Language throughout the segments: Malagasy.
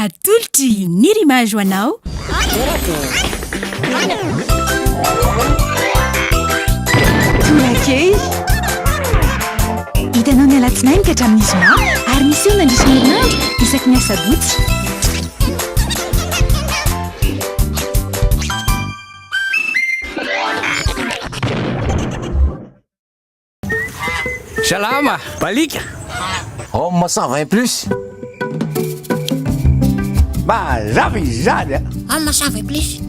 Atolotry i Nirima Jo anao. Makey. Hitanao ny alatsinainy ka hatramin'ny zoma ary miseho mandritra ny herinandro isaky ny asabotsy. Salama! Balika! Homme 120 plus. Mazava izany a! Homme 120 plus.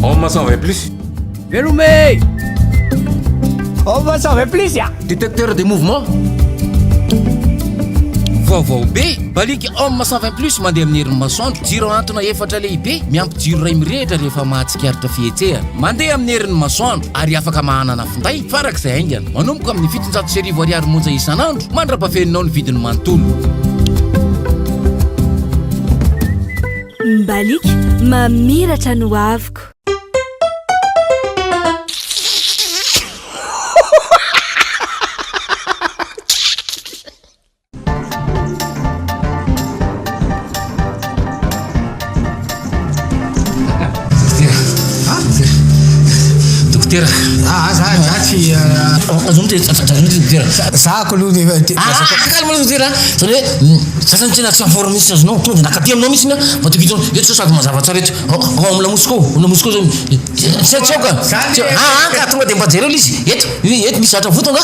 Homme 120 plus. Velome! Homme 120 plus a! Détecteur de mouvement. Vaovao be, balika Homme 120 plus mandeha amin'ny herin'ny masoandro, jiro ahantona efatra lehibe, miampy jiro iray mirehitra rehefa mahatsapa. Tsikaritra fihetsehana mandeha amin'ny herin'ny masoandro ary afaka mahanana finday farak'izay haingana. Manomboka amin'ny fitonjato sy arivo ariary monja isan'andro mandra-pafeninao ny vidiny manontolo. Mbaliaka mamiratra ny hoaviko. Dokotera, ah, za za tsy azony te azony te dokotera. Za ko aloha dia te. Ah, kaka maloha dokotera. Zany hoe mm, sasany tena tsy amporo mihitsy azonao. Tonga dia nakaty aminao mihitsy na mba tokony tony. Eto sasako mazava tsara eto. Ao ao amin'ny lamosiko, ao lamosiko zany. Tsy tsy aoka. Ah, ah, ka tonga dia mba jereo izy. Eto, eto misy zatra voto nga.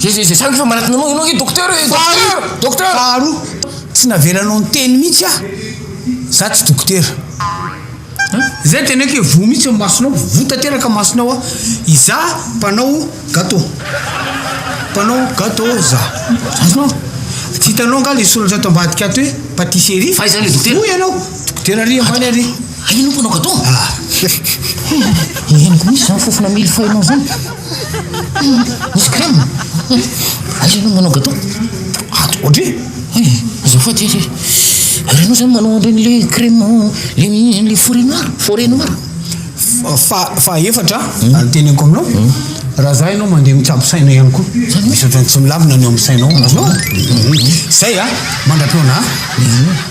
Ze ze ze zany fa manatona anao ianao nge docteur e docteur docteur faharoa tsy navelanao niteny mihitsy ah za tsy docteur zay teneko e voa mihitsy ny masonao voa tanteraka masonao ah iza mpanao gateau mpanao gateau za azonao tsy hitanao nga le soratra ato ambadika ato hoe patisserie fa iza le docteur hoy ianao docteur ary ambany ary Aia no mpanao gateau? Ah! Hum! Henoko mihitsy izany fofona mille feuille-nao izany. Hum! Misy crème? Hum! Aiza ianao no manao gateau? Ato Audrey? Hay! Azafady ee! Ary ianao izany manao an'ireny le crème le le forêt noire? Forêt noire? Fa fa efatra ah, ny teneniko aminao. Raha za ianao mandeha mitsabo saina ihany koa. Misy ohatran'ny tsy milamina ny ao amin'ny sainao. Azonao? Zay ah! Mandra-pihaona ah!